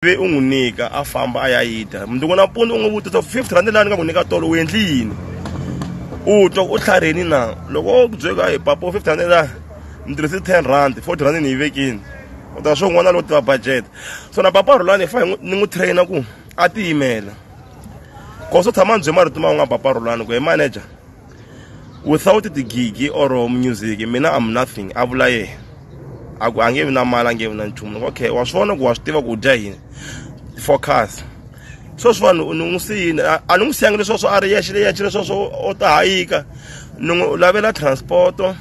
ivi u n'wi nyika a famba a ya yi dya mundzuku nampundzu u n'wi vutisa fifty rand laha ni nga ku nyika tolo u endli yini u twa u tlharheni na loko o ku byeka hi papa u fifty rand laha ni tirhise ten rand forty rand ni yi vekini u ta swo n'wana lowo tiva budget so na papa rhulani hi fa ni n'wi trainer ku a tiyimela koso tshama ni bye marito ma u nga papa rhulani ku hi manager without the gigi or music mina am nothing a vula yena a ku a nge vi na mali a nge vi na nchumu loko okay wa swi vona ku wa swi tiva ku dya yini focus sweswi vanhu ni n'wi siyini a ni n'wi siyangi leswaswo a ri yexe leyexe leswaswo o ta hayika ni n'wi lavela transporto um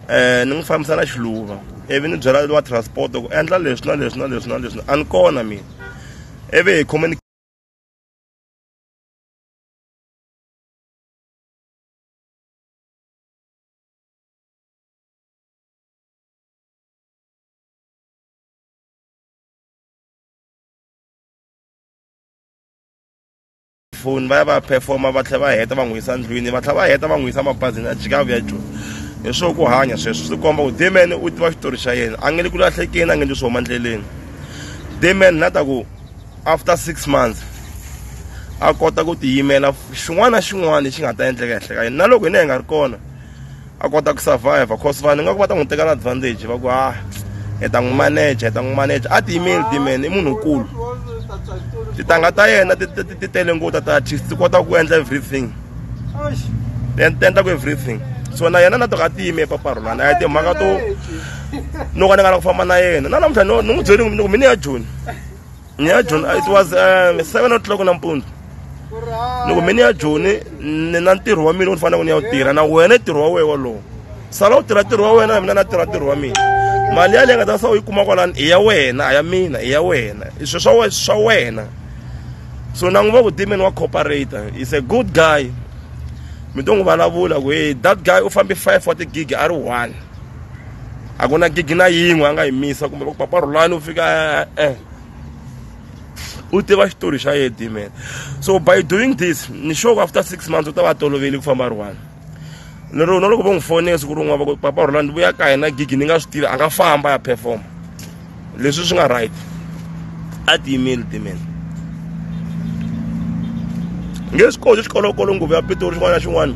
eh, ni n'wi fambisa na xiluva ivi ni byela wa transport ku endla leswi na leswi na leswi na leswi a ni kona mina ivi hi phone va ya va performa va tlhela va heta va n'wi yisa ndlwini va tlhela va heta va n'wi yisa mabazini a jika vuya joni hi swo ku hanya sweswo swi komba ku deman u tiva xitori xa yena a nge le ku lahlekeni a nge le swi huma ndleleni deman na ta ku after six months a kota ku tiyimela xin'wana na xin'wana lexi nga ta endleka ehenhla ka yena na loko hina hi nga ri kona a kota ku survive cause vanhu nga ku va ta n'wi tekela advantage va ku ha ah, hi ta n'wi manager hi ta n'wi manager a tiyimeli timen i munhu nkulu titanga ta yena ti tele ngota ta artist ti kota ku endla everything ti endla ku everything so na yena na to ka tiyime epaparhulana a yi timhaka to no ka ni nga la ku famba na yena na namuntlha ni n'wi byeli ni ku mini ya joni ni ya joni it was um, seven o'clock nampundzu loko mi ni ya joni ni na ntirho wa mina u ni faneleke ni ya wu tirha na wena ntirho wa wena wolowo sala u tirha ntirho wa wena mina na tirha ntirho wa mina mali yaleyi nga ta sa u yi kuma kwalani i ya wena a ya mina i ya wena i swi swa swa wena so na n'wi va ku demon wa cooperator is a good guy mi to n'wi vulavula ku hey that guy u fambe five wa tigigi a ri one a ku na gigi na yin'we a nga yi misa kumbe va ku papa rhulani u fika e-e u tiva xitori xa yena dimen so by doing this ni sure ku after six months u ta va toloveli ku famba rhulani lero na loko vo n'wi fonela siku rin'wana va ku papa rhulani vuya ka hina gigi ni nga swi tivi a nga famba ya performa leswi swi nga right a ti yimeli timela nge swi koti xikolokolo nguvu ya pitori xin'wana na xin'wana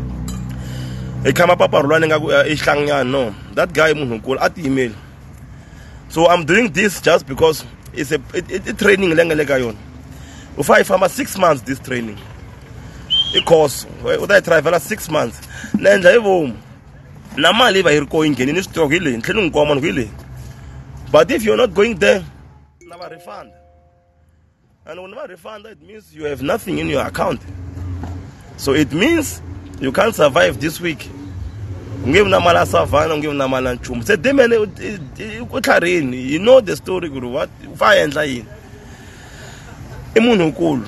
hi khama paparhulwana ingaku i xihlanganyana no that guy munhu nkulu a ti yimeli so i'm doing this just because it's a i training leyi nga le ka yona u fa yi famba six months this training i course u ta yi travel six months na endla hi vomu na mali yi va yi ri koho yi nghenile switoko hi leyi ni tlhela ni n'wi kuma munhu ku hi leyi but if you're not going there na va refund and when va refund it means you have nothing in your account so it means you can't survive this week u nge vi na mali ya savana u nge vi na mali ya nchumu se demene u tlharini you know the story ku ri what u fa endla yini i munhu nkulu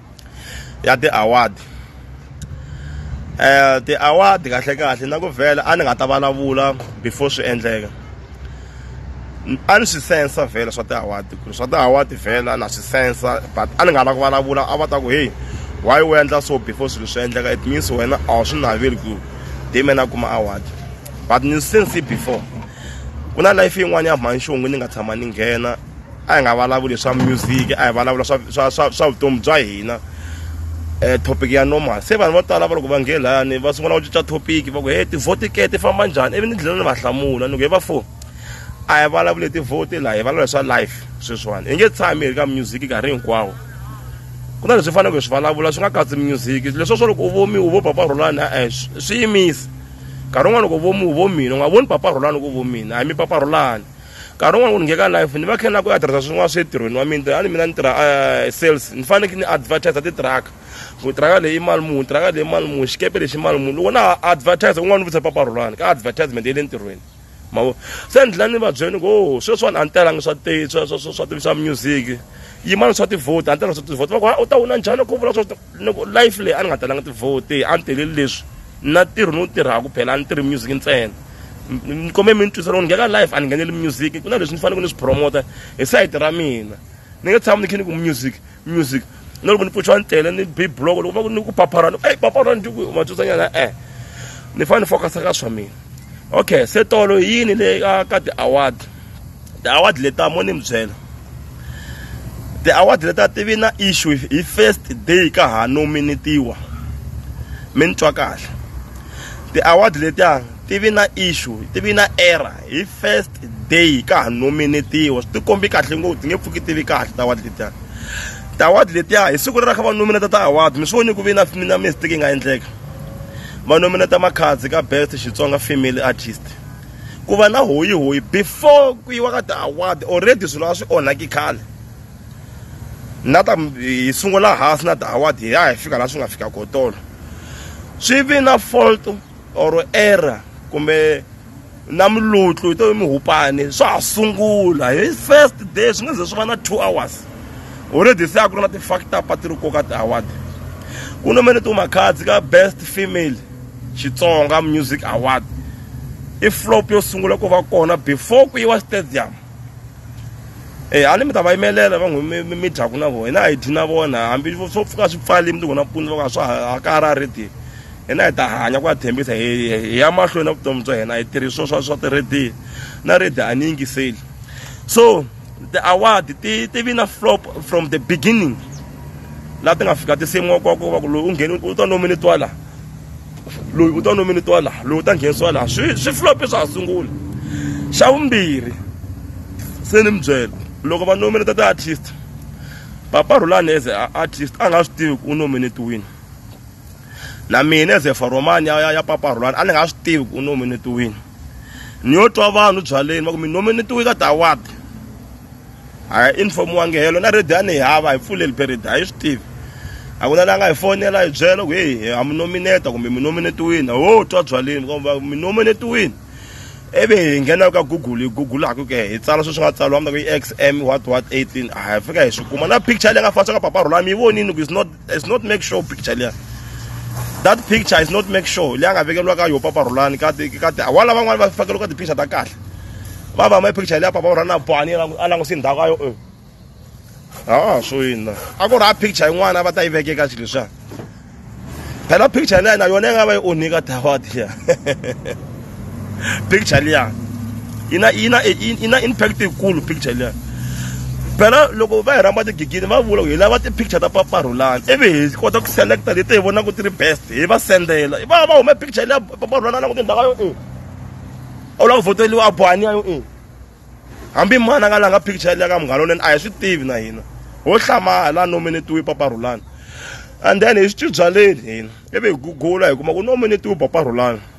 ya ti-award eh ti-award kahle kahle na ku vhela a ni nga ta vulavula before swi endleka a ni swi sensa vhela swa ti-award ku ri swa ti-award vhela na swi sensa but a ni nga la ku vulavula a va ta ku heyi why u endla so before swilo swi endleka it means wena a wu swi naveli ku hi mina kuma award but ni since before ku na life yin'wana ya mhani xon'wini ni nga tshama ni nghena a hi nga vulavuli swa music a hi vulavula swa swa swa swa vutomi bya hina um topic ya normal se vanhu vo tala va loko va nge lani va sungula ku cinca topic va ku he tivhoti ke ti famba njhani ivi ni dlhela ni va hlamula ni ku he va fo a hi vulavuli hi tivhoti laha hi vulavula hi swa life sweswiwani hi nge tshami hi ri ka music nkarhi hinkwawo ku na leswi faneleke hi swi vulavula swi nga katsi music leswo swo loko u vomi u vo papa rhulani e-e swi yimisi nkarhi wun'wana loko u vomi u vo mina u nga voni papa rhulani ku vo mina a hi mi papa rhulani nkarhi wun'wana ku ni ngheka life ni va khe na ku ya tirhisa swin'wana swi entirhweni wa mina a ni mina ni tirha eh, sales ni faneke ni advertise titiraka ku tiraka leyi mali muni tiraka leyi mali muni xikepe lexi mali muni loko na advertise un'wana ni vutisa papa rhulani ka advertisement ya le ntirhweni mavo se ni dlina ni va byeni ku oh, sweswiwani a ni telangi swa swa swa swa swa music yimani swa tivhoti a ni telangi swa tivhoti va ku u ta wina njhani ku vula swa loko life leyi a ni nga talanga tivhoti a ni teleli leswi na ntirho ni wu tirhaka phela a ni tirhi music ntsena ni kombe mi ni twisa loko ni ngheka life a ni ngheneli music ku na leswi ni faneleke ni swi promota hi sayiti ra mina ni nge tshama ni khe ni ku music music na loko ni pfuxiwa ni tele ni bi block loko va ku ni ku papharana eyi papharana njuku matwisanyana e-e ni fanele ni focus-a ka swa mina okay se tolo yini le ka ka ti-award ti-award leta mo ni mi byela ti-award leta ti vi na issue hi first day ka ha nominatiwa mi ni twa kahle ti-award letiya ti vi na issue ti vi na error hi first day ka ha nominatiwa swi tikombi kahle ngopfu ti nge pfuki ti vi kahle ti-award letiya ti-award letiya hi siku leri a kha va nominata ti-award mi swi voni ku vi na na mistake yi nga endleka va nominate makhadzi ka best xitsonga family artist ku va na hoyi hoyi before ku yiwa ka ti-award already swilo a swi onhaki khale na ta hi sungula hansi na ti-award hi ya hi fika laha swi nga fika kotolo swi vi na fault or error kumbe na mulutlu hi to muhupani swa ha sungula hi first day swi nga ze swi va na two hours already se a ku ri na ti-factor pati ri koka ti-award ku no mele timakhadzi ka best female xitsonga music award i flop yo sungula ku va kona before ku yiwa stadium e a ni mi ta va yimelela va n'wi mi mi dyaku na vona hina a hi dyi na vona hambi swo pfuka swi pfali mi ti vona mpundzu va ka swa ha ka ha ra rediyo hina hi ta hanya ku ya tshembisa hi ya mahlweni na vutomi bya hina hi tirhisiwa swa swa ti-radio na radio a ni yingiseli so ti-award ti ti vi na flop from the beginning laha ti nga fika ti semiwa kwa ku va ku loyi u ngheni u ta nominitiwa laha loyi u ta nominitiwa laha loyi u ta nghenisiwa laha swi swi flop swa ha sungula xa vumbirhi se ni mi byela loko va nominata ti-artist papa rhulani as a artist a nga swi tivi ku u nominetiwini na mina as a foromani ya, ya, ya papa rhulani a ni nga swi tivi ku u nominetiwini ni yo twa vanhu byaleni va ku mi nominetiwe ka tiaward a hi informiwangi helo na radio a ni yi hava hi pfuleli period a yi swi tivi a ku na la nga hi fonela hi byela ku heyi ha mi nomineta kumbe mi nominetiwini ho twa byaleni va mi nominetiwini ivi hi nghena ka google hi googulaku ke hi tsala sweswi nga tsaliwa mi ta ku i x m what what eighteen a hi fika hi swi kuma na picture leyi nga fana swa ka papa rhulani mi yi vonini ku is not It's not make sure picture liya that picture is not make sure leyi a nga vekeriwa ka yo papa rhulani ka ka wala van'wana va fakeriwa ka ti-picture ta kahle va va ma picture leya papa rhulani a bohani a languse ndhawu ka yo e a swo yini na a ku ri a picture yin'wana va ta yi vekeka xilo leswiya phela picture leyi na yona yi nga va yi onhika tawadi liya picture liyani yi na yi na yi na impact yikulu picture liyani phela loko va hi rhamba tigigini va vula ku hi lava ti-picture ta paparhulani ivi hi kota ku selecta leti hi vonaka ti ri best hi va sendela va va hume picture leya paparhulani a languti ndhaka yo e a wu lava ku voteliwa a bohaniya yo e hambi mani a nga langa picture leya ka munghana lonene a hi swi tivi na hina ho hlamala la nominetiwe paparhulani and then hi swi tibyaleni hina ivi hi gugula hi kuma ku nominetiwe paparhulani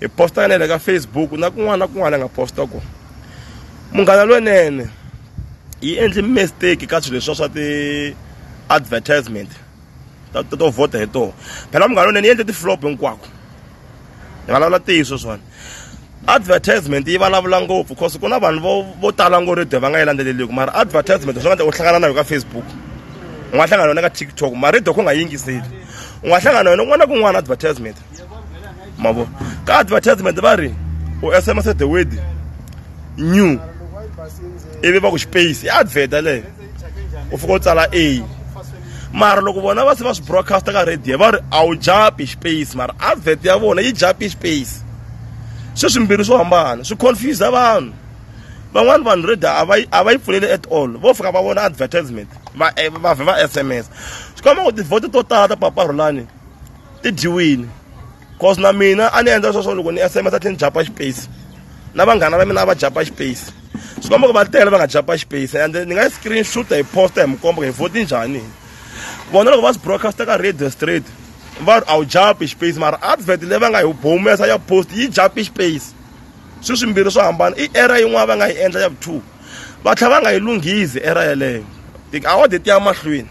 hi posta ka nene ka facebook na kun'wana na kun'wana a nga posta kona munghana lwenene yi endli mistake ka swilo leswa swa ti-advertisement ta to vhota hi tona phela munghana lwenene yi endle ti-flop hinkwako hi vulavula ntiyiso swona advertisement yi vulavula ngopfu cause ku na vanhu vo vo tala ngo radio va nga yi landzeleliki mara advertisement swi nga ta u hlangana na yo ka facebook u nga hlangana yona ka tiktok mara radio ku nga yingiseli u nga hlangana yona kun'wana na kun'wana advertisement mavo ka advertisement va ri u sms the word new ivi va ku space i advert leyo u fika u tsala a mara loko vona va se va swi broadcasta ka radio va ri a wu japi space mara advert ya vona yi japi space swi swimbirhi swo hambana swi confuse vanhu van'wani vanhu radio a va a va yi pfuleli at all vo fika va vona advertisement va eh, va vhe va sms swi koma ku tivhoto to tala ta paparhulani ti dyiwile cause na mina a ni endla sweswo loko ni sms a tlhe ni japa space na vanghana va mina a va japa space swi komba ku va tele va nga japa space and ni nga yi screen shooter hi posta hi mukombo hi voti njhani vona loko va swi broadcaster ka radio straight va ri a wu japi space mara advert leyi va nga yi humesa ya post yi japi space swi swimbirhi swo hambana i era yin'wana va nga yi endla ya vu two va tlhela va nga yi lunghizi era yeleyo tiawade ti ya mahlweni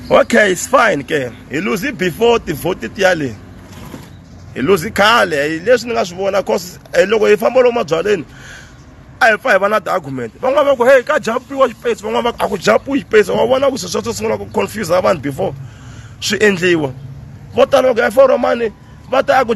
okay it's fine ke hi lose before tivhoti ti ya leyi hi lose khale hi leswi ni nga swi vona cause eh, loko hi famba lomu mabyaleni a hi pfa hi va na ti-argument van'wana va ku heyi ka japiwa xipesi van'wana va ku a ku japiwi xipesi wa vona ku swi sweswo sungula ku confuse vanhu before swi endliwa vo tala va ku ya foromani va ta a ku